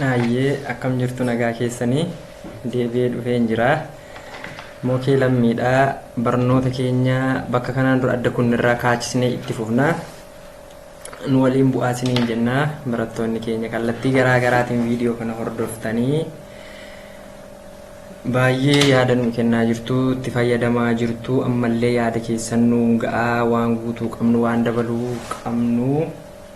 Naayyee akkam jirtu nagaa keessanii deebi'ee dhufeen jira. Mokee lammiidha. Barnoota keenya bakka kanaan dura adda kunnirraa kaachisnee itti fufna. Nu waliin bu'aa isiniin jenna. Barattoonni keenya kallattii garaa garaatiin viidiyoo kana hordoftanii baay'ee yaada nuu kennaa jirtu, itti fayyadamaa jirtu, ammallee yaada keessan nuun ga'aa waan guutuu qabnu waan dabaluu qabnu.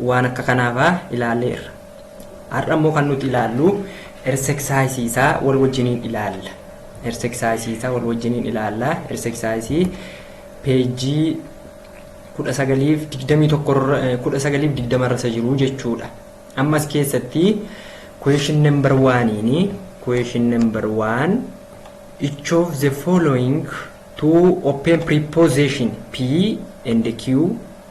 waan akka kanaa faa ilaalleerra. Har'a immoo kan nuti ilaallu erseksaayisii isaa wal wajjiniin ilaalla. Erseksaayisii isaa wal wajjiniin ilaalla. Erseksaayisii peejii kudha sagaliif digdamii tokko kudha sagaliif digdama irra isa jiru jechuudha. Ammas keessatti question number waaniini question number waan each of the following two open preposition P and Q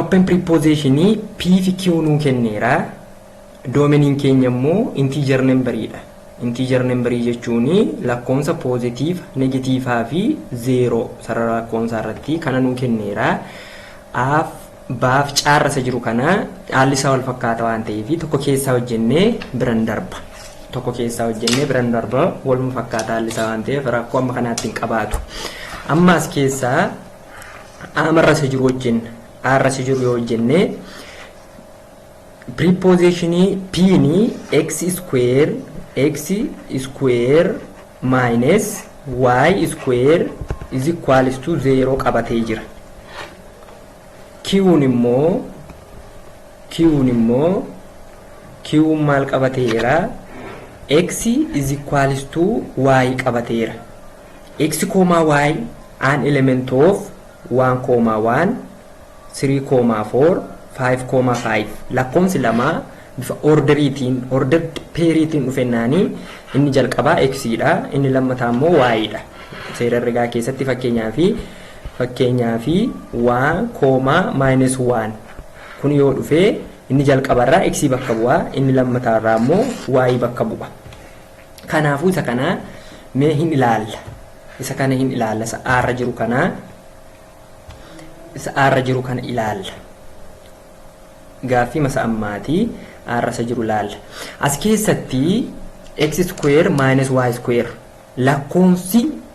open preposition p fi q nuu kenneera doomeniin keenya immoo integer number dha integer number jechuun lakkoofsa positive negative fi zero sarara lakkoofsaa irratti kana nuu kenneera af baaf caarra isa jiru kana haalli isaa wal fakkaata waan ta'eef tokko keessaa hojjennee biran darba. Tokko keessaa hojjennee biran darba waluma fakkaata haalli isaa waan ta'eef rakkoo amma kanaatti hin qabaatu. Amma as keessaa aamarra isa jiru hojjenna. Aarra isa jiru yoo hojjennee prepositionii piini x square x square minus y square is equals to 0 qabatee jira. Qn immoo Qn immoo Qn maal qabateera? X is equals to Y qabateera. X koomaa Y an element of 1 koomaa 1 3 koomaa 4 5 koomaa 5 lakkoomsi lama bifa orderiitiin order peeriitiin dhufennaanii inni jalqabaa X dha inni lammataa immoo Y dha. Seera herregaa keessatti fakkeenyaa fi Fakkeenyaaf, 1, 1. Kun yoo dhufe inni jalqabarraa x bakka bu'a, inni lammataarraa immoo y bakka bu'a. Kanaafuu isa kana mee hin ilaalla. Isa kana hin ilaalla. Isa aarra jiru kana isa aarra jiru kana ilaalla. Gaaffii masa ammaati aarra isa jiru ilaalla. As keessatti x square minus y square lakkoofsi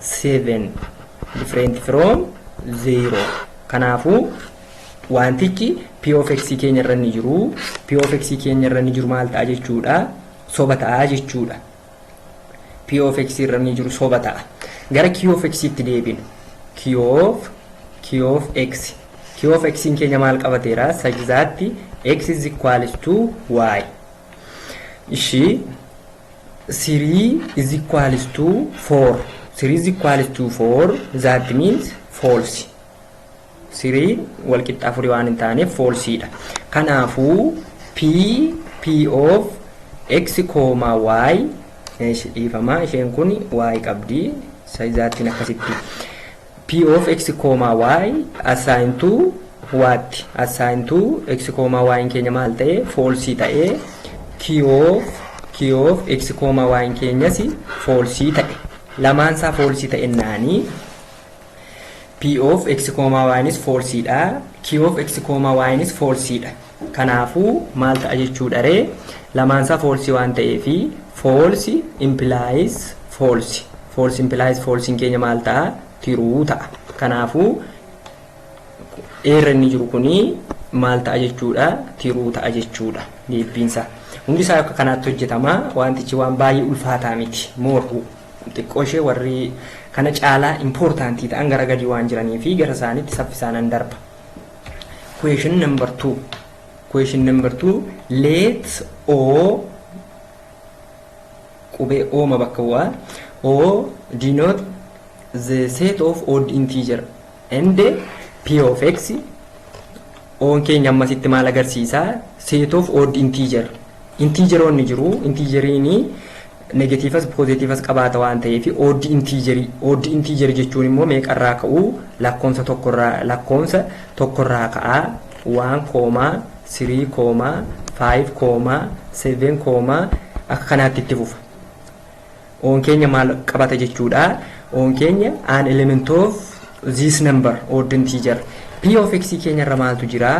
7 different from 0 kanaafuu wantichi p of x keenya irra ni jiru p of x keenya irra ni jiru maal ta'a jechuudha soba ta'a jechuudha p of x irra ni jiru soba ta'a gara q of x itti deebinu q of q of x q of x keenya maal qabateera sajzaatti x is equals to y ishii 3 is equals to 4 3 is equals to 4 that means false 3 wal qixxa afurii waan hin taaneef false dha kanaafuu p p of x kooma y dhiifama isheen kun y qabdi saizaattiin akkasitti P of x, y assign to what? assign to x, y n keenya maal ta'e? false ta'e. Q of Q of x, y n keenyas false ta'e. Lamaan isaa false ta'e naanii P of x, y nis false dha. Q of x, y nis false dha. Kanaafuu maal ta'a jechuudharee? Lamaansaa false waan ta'eefi false implies false. False implies false'n keenya maal ta'a? True ta'a. Kanaafuu A irra inni jiru kuni maal ta'a jechuudha? True ta'a jechuudha deebbiinsa. Hundi isaa akka kanaatti hojjetama. Wantichi waan baay'ee ulfaataa miti. Moorhu xiqqoo ishee warri kana caalaa important ta'an gara gadii waan jiranii fi gara isaaniitti saffisaanan darba. Question number two. Question number two. Let O qubee O ma bakka bu'a. O denote the set of odd integer and p of x oon keenya ammasitti maal agarsiisa set of odd integer integeroonni jiru integeriin negatiivas poozetiivas qabaata waan ta'eef ooddi intiijerii ooddi intiijerii jechuun immoo meeqarraa ka'uu lakkoomsa tokkorraa lakkoomsa tokkorraa ka'aa waan koomaa sirii koomaa faayiv koomaa seven koomaa akka kanaatti itti fufa oon keenya maal qabata jechuudha oon keenya an element of this number odd integer p of x keenyarra maaltu jira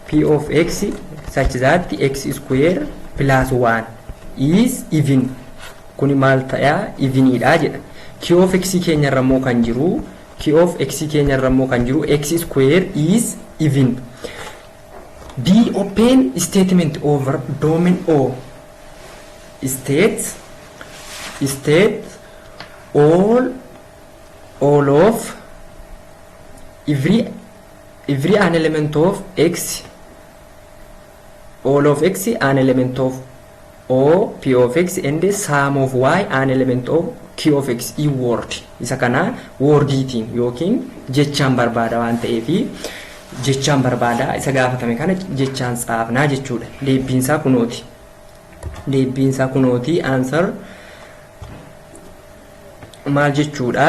P of x such that x square plus 1 is even kuni maal ta'a eveniidha jedha q of x keenya irra immoo kan jiru q of x keenya irra immoo kan jiru x square is even d open statement over domain o state state all all of every Every an element of x all of x an element of o p of x and sum of y an element of q of x i word isa kana wordiitiin yookiin jechaan barbaada waan ta'eef jechaan barbaada isa gaafatame kana jechaan tsaafnaa jechuudha deebbiinsaa kunooti deebbiinsaa kunooti answer maal jechuudha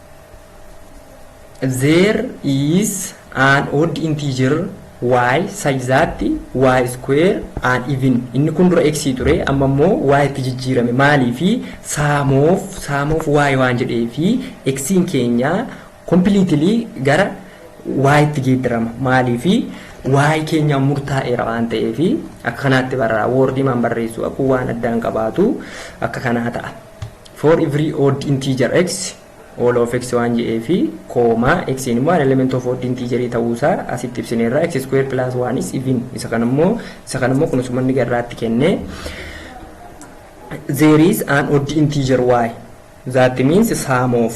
There is an odd integer y such that y square an even inni kun dura x ture amma immoo y itti jijjiirame maalii fi saamoof saamoof y waan jedhee fi xiin keenya completely gara y itti geeddarama maalii fi y keenya murtaa'eera waan ta'eef akka kanaatti barraa woordii maan barreessuu akkuu waan addaan qabaatu akka kanaa ta'a. For every odd integer x all of x waan jedhee fi koomaa x immoo an element of odd integer ta'uu isaa asitti ibsineerra x square plus 1 is even isa kan immoo isa kan immoo kunis manni garraatti kenne there is an odd integer y that means sum of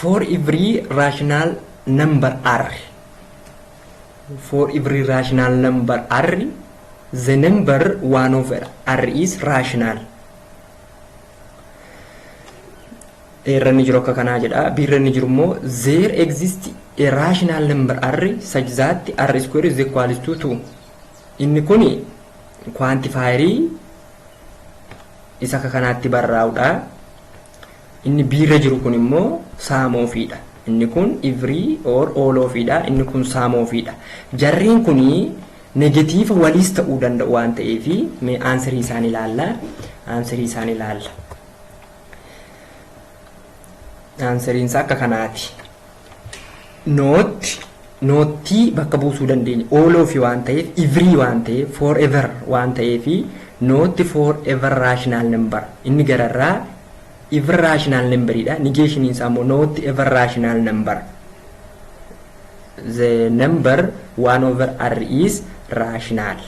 For every rational number r for every rational number r the number 1 over r is rational irra inni jiru akka kanaa jedha b irra inni jiru immoo there exist a rational number r such that r square is equal to 2 inni kun kwantifaayerii isa akka kanaatti barraa'udha. Inni B irra jiru kun immoo sum of dha. Inni kun every or all of dha. Inni kun sum of dha. Jarreen kun negatiiva waliis ta'uu danda'u waan ta'eef mee aansirii isaan ilaalla. Aansirii isaan ilaalla. Aansiriin isaa akka kanaati. Not, noottii bakka buusuu dandeenya. All of waan ta'eef, every waan ta'eef, forever waan ta'eef, not forever rational number. Inni gararraa ever rational number dha. Negation isaa immoo not ever rational number. The number 1 over r is rational.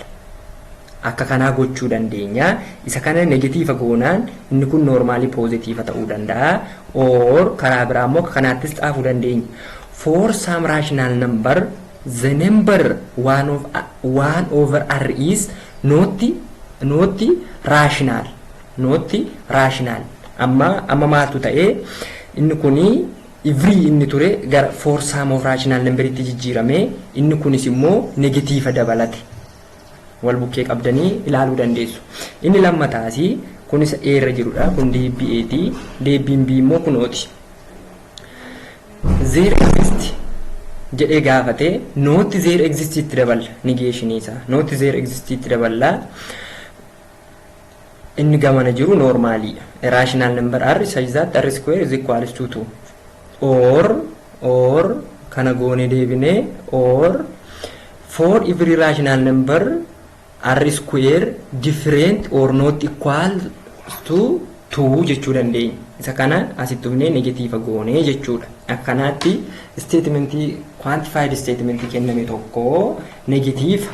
Akka kanaa gochuu dandeenya. Isa kana negatiiva goonaan inni kun noormaalii poozitiiva ta'uu danda'a. Or karaa biraa immoo akka kanaattis xaafuu dandeenya. For some rational number the number 1 of 1 over r is not not rational not rational amma amma maaltu ta'e inni kuni every inni ture gara for some of rational number itti jijjiirame inni kunis immoo negatiiva dabalate wal bukkee qabdanii ilaaluu dandeessu. Inni lammataasi kun isa A irra jirudha. Kun deebbii A ti. Deebbiin B immoo kun O ti. Zeer exist jedhee gaafate nootti zeer exist itti daballa nigeeshinii isaa. Nootti zeer exist itti daballa. Inni gamana jiru normaalii dha. A rational number r such that r square is equals to 2. Or, or, kana goone deebine, or, for every rational number r square different or not equal to 2 jechuu dandeenya. Isa kana asitti humnee negatiiva goone jechuudha. Akkanaatti statementii quantified statementii kenname tokko negatiiva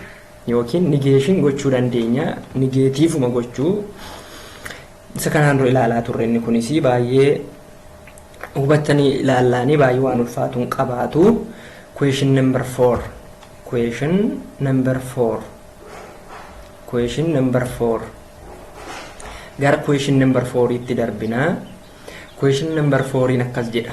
yookiin nigeeshin gochuu dandeenya. Nigeetiifuma gochuu. Isa kanaan dura ilaalaa turre inni kunis baay'ee hubattanii ilaallaanii baay'ee waan ulfaatu hin qabaatu. Question number four. Question number four. Question number four. Gara question number fouriitti darbinaa. Question number fouriin akkas jedha.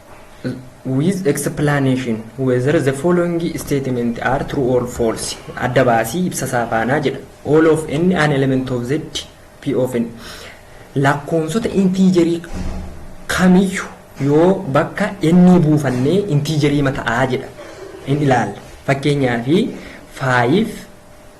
with explanation whether the following statement are true or false adda baasii ibsa isaa faanaa jedha all of n an element of z p of n lakkoofsota intiijerii kamiyyu yoo bakka n buufannee intiijerii mata'aa jedha in ilaalla fakkeenyaa fi 5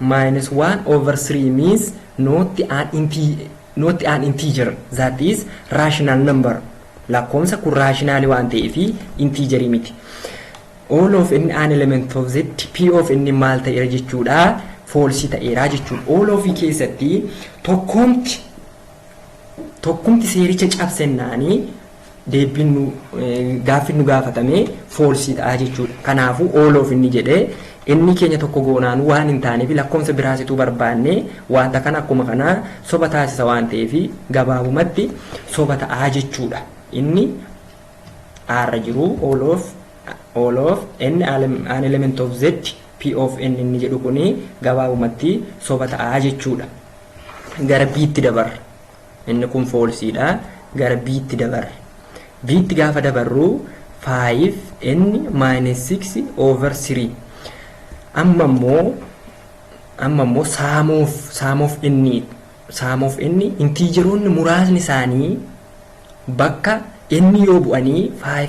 minus 1 over 3 means not an integer, not an integer that is rational number lakkoomsa kun raashinaali waan ta'ee fi intiijarii miti. All of n an element of z p of n maal ta'eera jechuudha foolsii ta'eera jechuudha. All of keessatti tokkoomti tokkumti seericha cabsennaani deebbiin nu gaaffiin nu gaafatame foolsiidha jechuudha. Kanaafuu ooloof inni jedhee inni keenya tokko goonaan waan hin taaneef lakkoofsa biraasituu barbaanne wanta kana akkuma kanaa soba taasisa waan ta'eef gabaabumatti soba ta'aa jechuudha. Inni aarra jiru ooloof ooloof n an element of z POFN inni jedhu kun gabaabumatti soba ta'a jechuudha. Gara B'tti dabarra. Inni kun foolsiidha. Gara B'tti dabarra. B'tti gaafa dabarru 5n minus 6 over 3. Amma immoo amma immoo saamuuf saamuuf inni saamuuf inni intiijeroonni muraasni isaanii bakka inni yoo bu'anii 5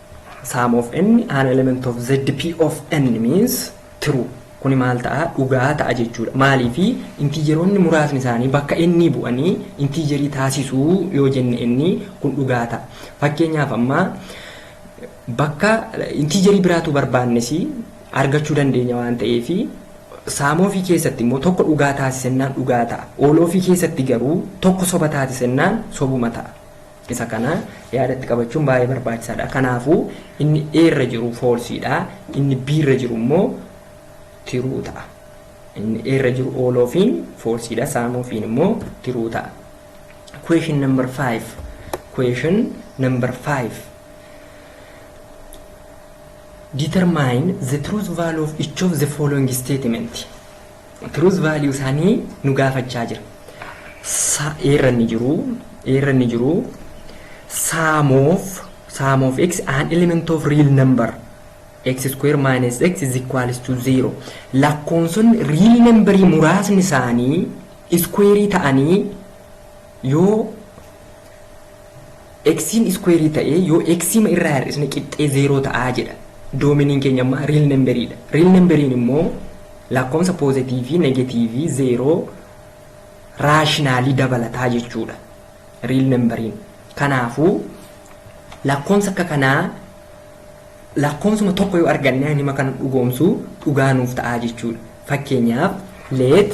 Sum of n an element of z p of n means true. Kuni maal ta'a? Dhugaa ta'a jechuudha. Maaliifi intiijeroonni muraasni isaanii bakka n bu'anii intiijerii taasisu yoo jenne n kun dhugaa ta'a. Fakkeenyaaf amma bakka intiijerii biraatu barbaannes argachuu dandeenya waan ta'eef sum of keessatti immoo tokko dhugaa taasisennaan dhugaa ta'a. All of keessatti garuu tokko soba taasisennaan sobuma ta'a. Isa kana yaadatti qabachuun baay'ee barbaachisaadha. Kanaafuu inni A irra jiru false dha. Inni B irra jiru immoo true ta'a. Inni A irra jiru all of in false dha. Some of in immoo true ta'a. Question number 5. Question number 5. Determine the truth value of each of the following statement. Truth value isaanii nu gaafachaa jira. Sa eerra inni jiru eerra inni jiru sum of sum of x an element of real number x square minus x is equals to 0 lakkoonsonni real numberii muraasni isaanii iskuweerii ta'anii yoo X'n iskuweerii ta'ee yoo X'ma irraa hir'isne qixxee zeeroo ta'a jedha. Doomeniin keenya ammaa riil namberiidha. Riil namberiin immoo lakkoomsa poozatiivii, negatiivii, zeeroo, raashinaalii dabalataa jechuudha. Riil namberiin. Kanaafuu lakkoomsa akka kanaa lakkoomsuma tokko yoo arganne hima kana dhugoomsu dhugaa nuuf ta'a jechuudha. Fakkeenyaaf let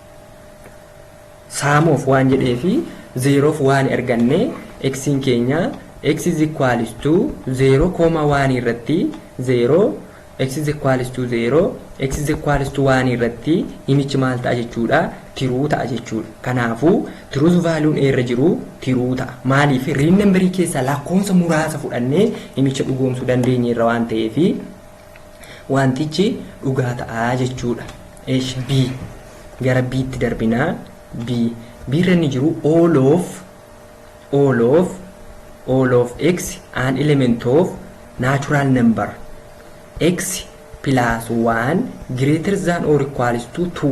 sum of waan jedhee fi zeeroof waan erganne x'n keenya x is equals to 0 kooma waan irratti 0 x is equals to 0 x is equals to waan irratti himichi maal ta'a jechuudha tiruu ta'a jechuudha kanaafuu tiruus vaaluun eerra jiru tiruu ta'a maaliif riin nambarii keessaa lakkoofsa muraasa fudhannee himicha dhugoomsuu dandeenye irra waan ta'eefi wantichi dhugaa ta'a jechuudha. Eesh B gara B'tti darbinaa B B'irra inni jiru all of all of all of x an element of natural number x plus 1 greater than or equals to 2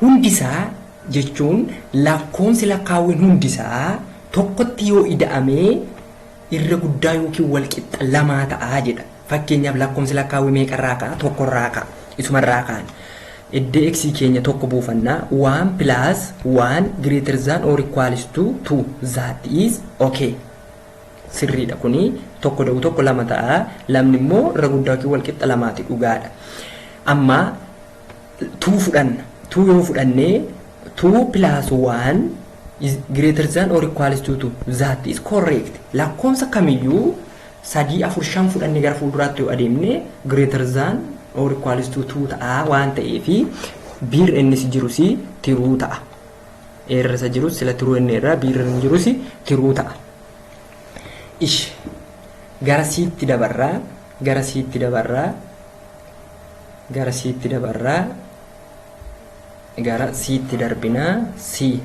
Hundisaa jechuun lakkoomsi lakkaawwiin hundisaa tokkotti yoo ida'ame irra guddaa yookiin walqixxa lamaa ta'a jedha. Fakkeenyaaf lakkoomsi lakkaawwii meeqarraa ka'a? Tokkorraa ka'a. Isumarraa kaana. Iddoo x keenya tokko buufanna. 1 plus 1 greater than or equals to 2 that is okay. Sirriidha kuni tokko da'u tokko lama ta'a. Lamni immoo irra guddaa yookiin walqixxa lamaati dhugaadha. Amma 2 fudhanna. 2 yoo fudhanne 2 plus 1 is greater than or equals to 2. That is correct. Lakkoomsa kamiyyuu sadii afur shan fudhanne gara fuulduraatti yoo adeemne greater than or equals to 2 ta'a waan ta'eef biir innis jirus tiruu ta'a. Eerra isa jirus sila tiruu inni irraa biir inni jirus tiruu ta'a. Ish gara siitti dabarraa gara siitti dabarraa Gara Ctti dabarra. Gara Ctti darbina. C.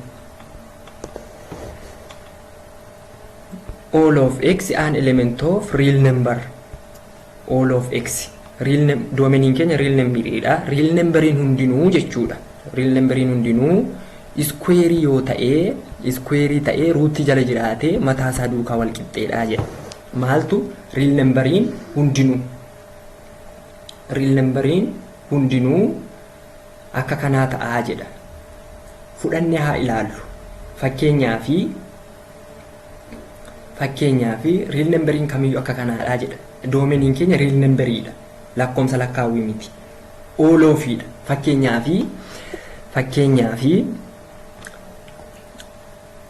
All of x an element of real number. All of x. Real num doomeniin keenya real number dha. Real numberiin hundinuu jechuudha. Real numberiin hundinuu iskuweerii yoo ta'ee iskuweerii ta'ee ruutii jala jiraatee mataa isaa duukaa wal qixxeedha jedha. Maaltu real numberiin hundinuu riil nambariin hundinuu akka kanaa ta'aa jedha fudhanne haa ilaallu fakkeenyaa fi fakkeenyaa fi riil nambariin kamiyyuu akka kanaadhaa jedha doomeniin keenya riil nambariidha lakkoomsa lakkaawwii miti ooloofiidha fakkeenyaa fi fakkeenyaa fi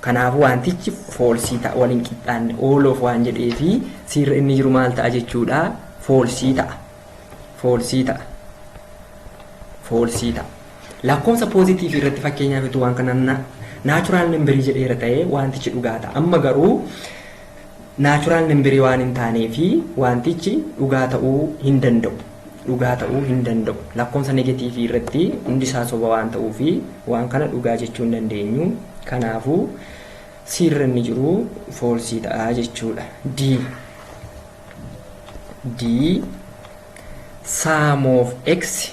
Kanaafuu waantichi foolsii ta'a, wal hin qixxaanne, all of waan jedhee fi C irra inni jiru maal ta'a jechuu dha? Foolsii ta'a. Foolsii ta'a. Foolsii ta'a. Lakkoofsa poozitiivii irratti fakkeenyaaf utuu waan kana naachuraal nambarii jedheera ta'ee waantichi dhugaa ta'a. Amma garuu naachuraal nambarii waan hin taanee fi waantichi dhugaa ta'uu hin danda'u. dhugaa ta'uu hin danda'u. Lakkoofsa negatiivii irratti hundi isaa soba waan ta'uuf waan kana dhugaa jechuu hin dandeenyu. Kanaafuu C irra inni jiru foolsii ta'a jechuudha. D. D. Sum of x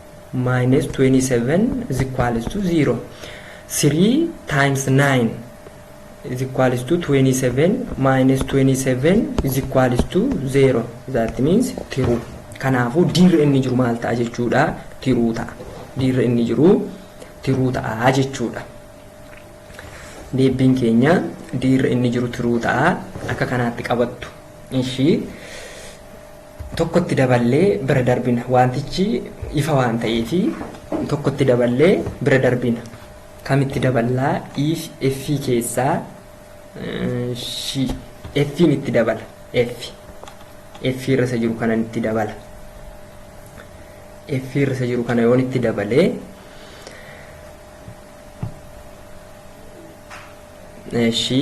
minus 27 is equals to 0 3 times 9 is equals to 27 minus 27 is equals to 0 that means tiruu kanaafuu diirri inni jiru maal ta'a jechuudha tiruu ta'a diirri inni jiru tiruu ta'a jechuudha deebiin keenya diirri inni jiru tiruu ta'a akka kanaatti qabattu ishii tokkotti daballee bira darbina. Wantichi ifa waan ta'eef tokkotti daballee bira darbina. Kamitti daballaa? If, F keessaa shi F'n itti dabala. F. F irra isa jiru kanan itti dabala. F irra isa jiru kana yoon itti dabalee shi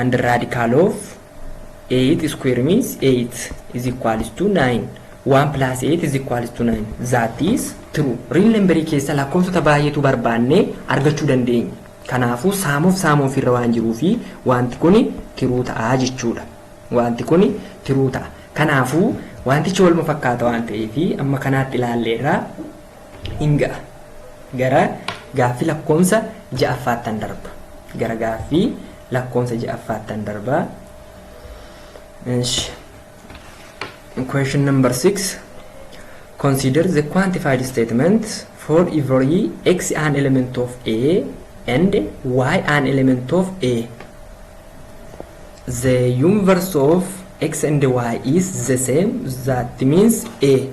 and radical of 8 square means 8 is equals to 9 1 plus 8 is equals to 9 that is true real number keessa lakkoofsota baay'eetu barbaanne argachuu dandeenya kanaafuu saamuuf saamuuf irra waan jiruu fi wanti kun tiruu ta'a jechuudha wanti kun tiruu ta'a kanaafuu wantichi walma fakkaata waan ta'eef amma kanaatti ilaalleerra hin ga'a. Gara gaaffii lakkoofsa ja'affaattan darba. Gara gaaffii lakkoofsa ja'affaattan darba. Ish. Question number six. Consider the quantified statement for every x an element of A and y an element of A. The universe of x and y is the same. That means A.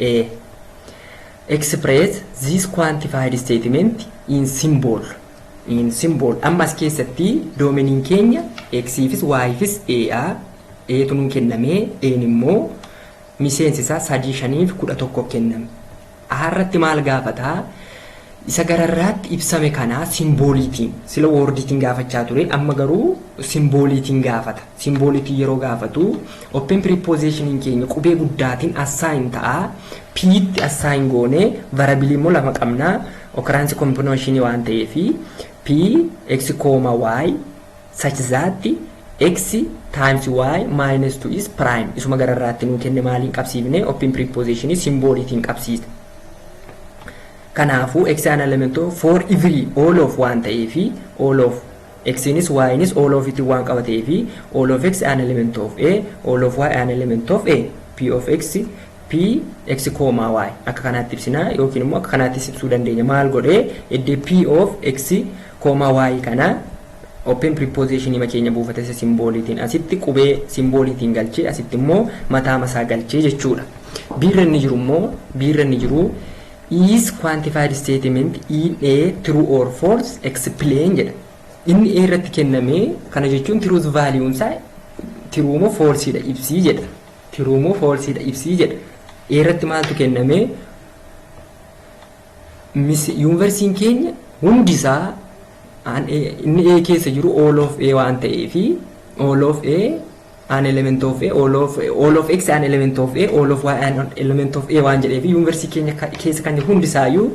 A. Express this quantified statement in symbol. In symbol. Amma as keessatti doomeniin keenya X'ifis Y'ifis A'a. Eetu nuu kennamee E'n immoo miseensi isaa sadii shaniif kudha tokko kenname. A irratti maal gaafataa? Isa gararraatti ibsame kanaa simbooliitiin sila woordiitiin gaafachaa ture amma garuu simbooliitiin gaafata. Simbooliitiin yeroo gaafatu, open preposition keenya qubee guddaatiin assign ta'a. P tti assign goone, variable immoo lama qabna. Occurrence combination waan ta'eef, P, X, Y, such that X times Y minus 2 is prime. Isuma gararraatti nuu kenne maaliin qabsiifne? Open preposition simbooliitiin qabsiisne. Kanaafuu X an element of for every all of waan ta'eef all of X nis Y nis all of tiin waan qaba ta'eefi all of X an element of A, all of Y an element of A, P of X, P, X comma Y akka kanaatti ibsina yookiin immoo akka kanaattis ibsuu dandeenya maal godhee iddee P of X comma Y kana open preposition hima keenya buufata isa simbooliitiin asitti qubee simbooliitiin galchee asitti immoo mataa masaa galchee jechuudha. B irra inni jiru immoo B irra inni jiru Is quantified statement in a true or false explain jedha. Inni A irratti kenname kana jechuun truth value isaa true moo false dha ibsii jedha. True moo false dha ibsii jedha. A irratti maaltu kenname? Yuunivarsiitiin keenya hundi isaa inni A keessa jiru all of A waan ta'eefi all of A an element of A all of all of X an element of A all of Y an element of A waan jedhee fi yuunivarsiitii keenya ka- keessa kan jiru hundi isaayyuu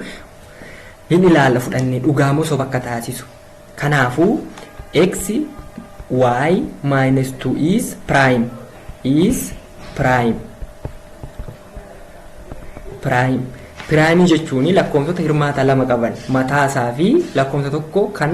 hin ilaalla fudhannee dhugaa moo soba akka taasisu. Kanaafuu X Y minus 2 is prime is prime prime prime jechuun lakkoofsota hirmaata lama qaban mataa isaa fi lakkoofsa tokko kan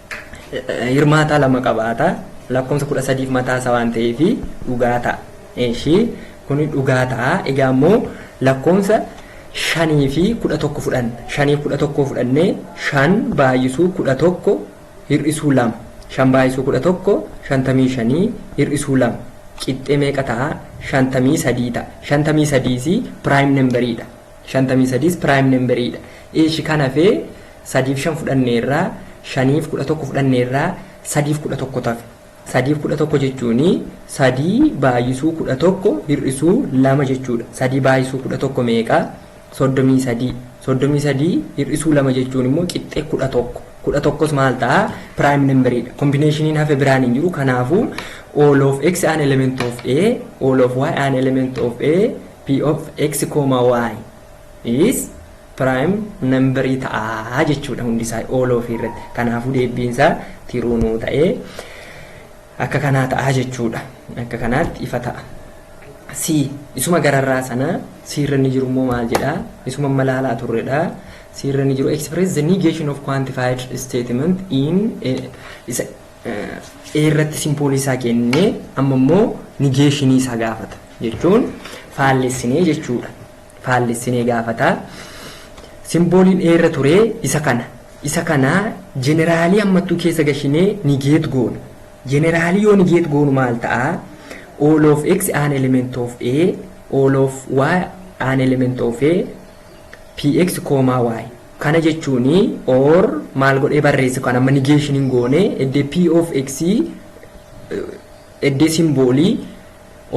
hirmaataa lama qabaata. Lakkoofsa kudha sadiif mataa isaa waan ta'eef dhugaa ta'a. Ishii kun dhugaa ta'a. Egaa immoo lakkoofsa shanii fi kudha tokko fudhanna. Shanii kudha tokko fudhannee shan baay'isuu kudha tokko hir'isuu lama. Shan baay'isuu kudha tokko shantamii shanii hir'isuu lama. Qixxee meeqa ta'a? Shantamii sadii ta'a. Shantamii sadiis piraayim nambariidha. shantamii sadiis prime number dha. Eeshi kan hafee sadiif shan fudhanneerra, shaniif kudha tokko fudhanneerra, sadiif kudha tokko tafe. Sadiif kudha tokko jechuuni sadii baay'isuu kudha tokko hir'isuu lama jechuudha. Sadii baay'isuu kudha tokko meeqa? Soddomii sadii. Soddomii sadii hir'isuu lama jechuun immoo qixxee kudha tokko. Kudha tokkos maal ta'a? Prime number dha. Kombineshiniin hafe biraan hin jiru. Kanaafuu all of x an element of a, all of y an element of a, P of x, y is prime nambarii ta'a jechuudha hundi isaa all of irratti. Kanaafuu deebbiin isaa tiruu nuu ta'ee akka kanaa ta'a jechuudha. Akka kanaatti ifa ta'a. C isuma gararraa sana C irra inni jiru immoo maal jedha? Isuma amma laalaa turredha. C irra inni jiru express the negation of quantified statement in isa irratti simpoolii isaa kennee amma immoo nigeeshinii isaa gaafata jechuun faallessinee jechuudha. Faallessinee gaafata. Simpooliin irra turee isa kana. Isa kana jeneraalii ammattuu keessa gashinee nigeet goona. Jeneraalii yoo nigeet goonu maal ta'a? All of x an element of a, all of y an element of a, px comma y. Kana jechuun or maal godhee barreessa kan amma negation hin goone eddee p of x eddee simboolii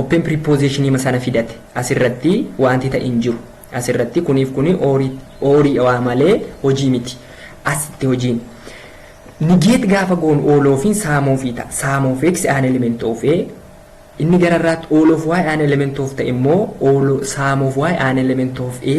open preposition hima sana fidate asirratti wanti ta'e hin jiru asirratti kuniif kuni oorii waa malee hojii miti asitti hojiin negate gaafa goonu all of in sum of i ta'a sum of x an element of a inni gararraatti all of y an element of ta'e immoo all sum of y an element of a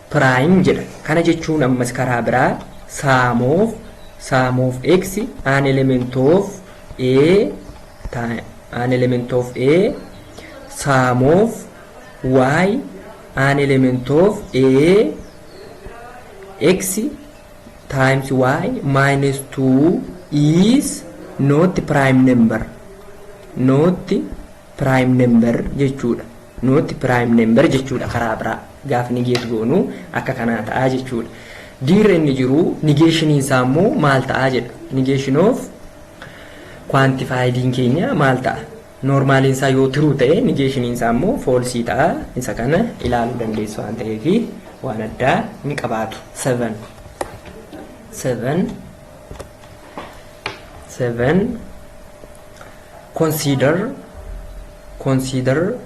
prime jedha. Kana jechuun ammas karaa biraa sum of sum of x an element of a time an element of a sum of y an element of a x times y minus 2 is not prime number not prime number jechuudha. Not prime number jechuudha karaa biraa gaafa negate goonu akka kanaa ta'a jechuudha. D irra inni jiru negation isaa immoo maal ta'a jedha. Negation of quantified'n keenya maal ta'a? Normaaliin isaa yoo true ta'e negation isaa immoo false ta'a. Isa kana ilaaluu dandeessu waan ta'eef waan addaa hin qabaatu. 7 7 seven consider consider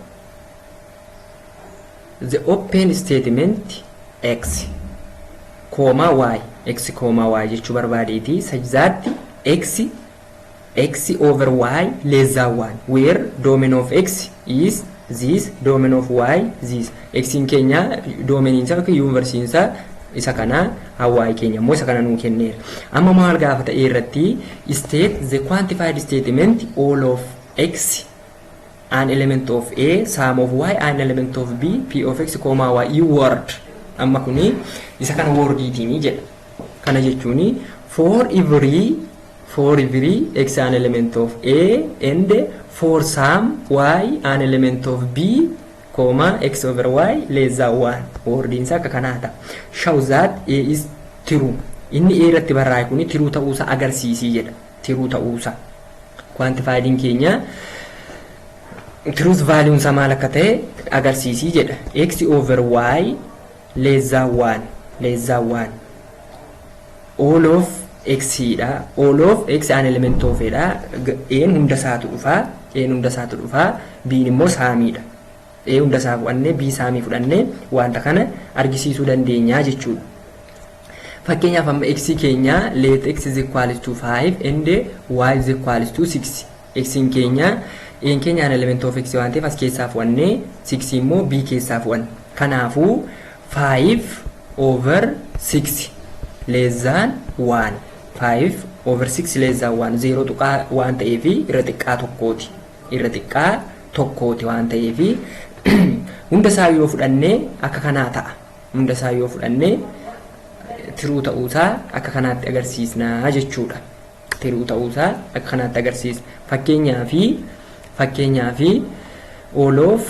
the open statement x comma y x comma y jechuu barbaadeeti sajzaatti x X over Y less than 1 where domain of X is this domain of Y this X'n keenya domain isaa yookiin universe isaa isa kana Y keenya immoo isa kana nuu kenneera. Amma maal gaafata A irratti state the quantified statement all of X an element of A sum of Y an element of B P of X comma Y i word amma kuni isa kana wordiitiini jedha. Kana jechuun for every for every x an element of A and for some y an element of B, comma, x over y less than 1 wordiin isaa akka kanaa ta'a. Show that A is true. Inni A irratti barraa'e kuni tiruu ta'uusaa agarsiisii jedha. Tiruu ta'uusaa. Quantifiedin keenya truth value isaa maal akka ta'e agarsiisii jedha. x over y Leezzaawwaan Leezzaawwaan All of x dha. All of x an element of dha. A'n hunda isaatu dhufa. A'n hunda isaatu dhufa. B'n immoo saamiidha. A hunda isaa fudhannee B saamii fudhannee wanta kana argisiisuu dandeenya jechuudha. Fakkeenyaaf amma x keenya let x is equals to 5 and y is equals to 6 Xn keenya A'n keenya an element of X waan ta'eef as keessaa fu'anne 6 immoo B keessaa fu'an. Kanaafuu 5 over 6 less than 1 5 over 6 less than 1 0 tuqaa waan ta'eef irra xiqqaa tokkooti. Irra xiqqaa tokkooti waan ta'eef hunda isaa yoo fudhanne akka kanaa ta'a. Hunda isaa yoo fudhanne tiruu ta'uusaa akka kanaatti agarsiisna jechuudha. tiruu ta'uu isaa akka kanaatti agarsiisa. Fakkeenyaaf fakkeenyaaf all of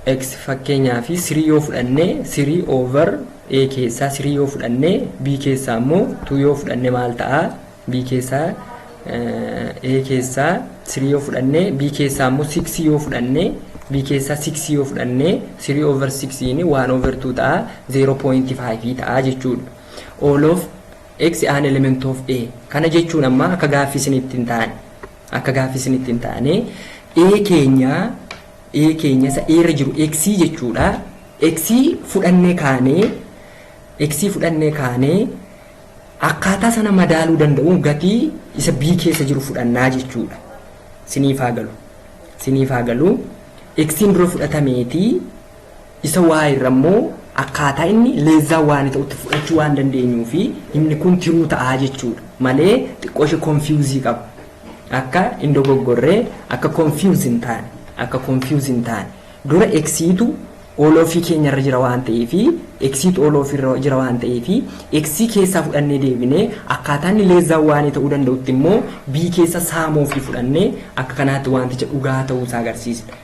x fakkeenyaaf sirii yoo fudhanne sirii over a keessaa sirii yoo fudhanne b keessaa immoo 2 yoo fudhanne maal ta'a b keessaa a keessaa sirii yoo fudhanne b keessaa immoo 6 yoo fudhanne b keessaa 6 yoo fudhanne sirii over 6 inni 1 over 2 ta'a 0.5 ta'a jechuudha. All of X an element of A. Kana jechuun amma akka gaaffii isinitti hin taane. Akka gaaffii isinitti hin taane. A keenya A keenya isa A irra jiru X jechuudha. X fudhannee kaanee X fudhannee kaanee akkaataa sana madaaluu danda'uun gatii isa B keessa jiru fudhannaa jechuudha. Siniif haa galu. Siniif haa galu. X dura fudhatameetii Isa Y irra immoo akkaataa inni less than 1 ta'utti fudhachuu waan dandeenyuuf inni kun tiruu ta'a jechuudha. Malee xiqqoo ishee confuse qaba. Akka hin dogoggorre, akka confuse hin taane, akka confuse hin taane. Dura X tu all of keenya irra jira waan ta'eef, X tu all of irra jira waan ta'eef, X keessaa fudhannee deebinee akkaataa inni less than 1 ta'uu danda'utti immoo B keessa sum of fudhannee akka kanaatti wanticha dhugaa ta'uu isaa agarsiisna.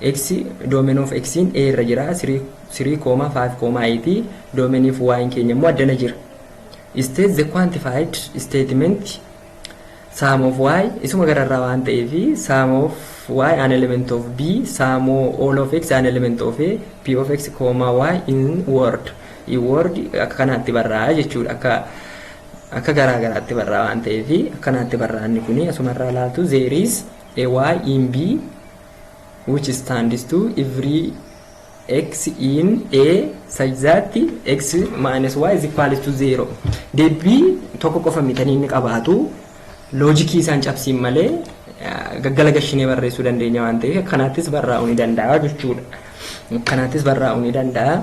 X domain of X in A irra jira 3,5,8 domain if Y in keenya immoo addana jira. State the quantified statement sum of Y isuma gararraa waan ta'eef sum of Y an element of B sum all of X an element of A P of X comma Y in word in word akka kanaatti barraa'aa jechuudha akka akka garaa garaatti barraa waan ta'eef akkanaatti barraa'anni kuni asumarraa ilaaltu there is a y in b which stands to every x in a such that x minus y is equal to 0 deebii tokko qofa mitanii inni qabaatu loojikii isaan cabsiin malee gaggala gashinee barreessuu dandeenya waan ta'eef kanaattis barraa'uu ni danda'a jechuudha. Kanaattis barraa'uu ni danda'a.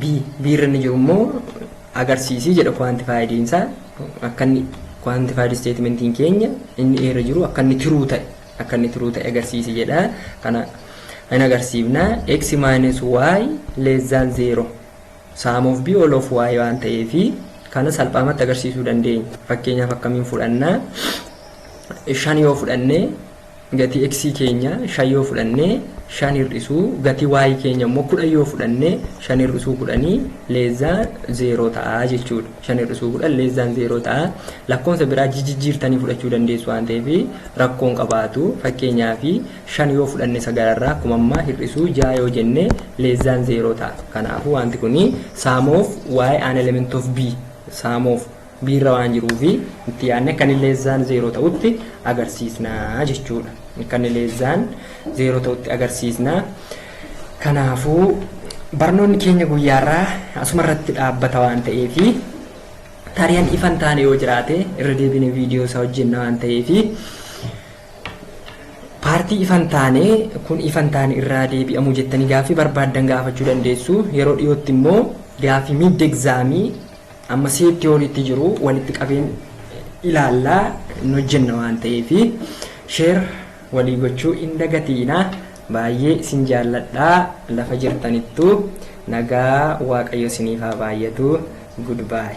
B B irra inni jiru immoo agarsiisii jedha kuwaantifaayidiinsaa akka inni kuwaantifaayid isteetimentiin keenya inni irra jiru akka inni tiruu ta'e akka inni true ta'e agarsiisi jedha. Kana hin agarsiifna. x minus y less than 0 sum of b all of y waan ta'eef kana salphaamatti agarsiisuu dandeenya. Fakkeenyaaf akkamiin fudhanna? Shan yoo fudhanne gatii x keenya shan yoo fudhanne shan hir'isuu gatii y keenya immoo kudhan yoo fudhanne shan hir'isuu kudhanii less than 0 ta'a jechuudha. 5 hir'isuu 10 less than 0 ta'a. Lakkoofsa biraa jijjiirtanii fudhachuu dandeessu waan ta'eef rakkoon qabaatu. Fakkeenyaaf 5 yoo fudhanne sagalarraa akkuma ammaa hir'isuu 6 yoo jenne less than 0 ta'a. Kanaafuu wanti kun sum of y an element of b sum of b irra waan jiruuf itti yaadne kan less than 0 ta'utti agarsiisna jechuudha. Kan less than 0 ta'utti agarsiisna. Kanaafuu barnoonni keenya guyyaarraa asuma irratti dhaabbata waan ta'eef taariyan ifan taane yoo jiraate irra deebine viidiyoo isaa hojjenna waan ta'eef paartii ifan taane kun ifan taane irraa deebi'amuu jettanii gaaffii barbaaddan gaafachuu dandeessu yeroo dhiyootti immoo gaaffii miid egzaamii amma seet tiyooriitti jiru walitti qabeen ilaallaa hin hojjenna waan ta'eef sheer Walii gochuu hin dagatiinaa baay'ee isin jaalladhaa lafa jirtanittuu nagaa waaqayyo isiniif haa baay'atu good bye.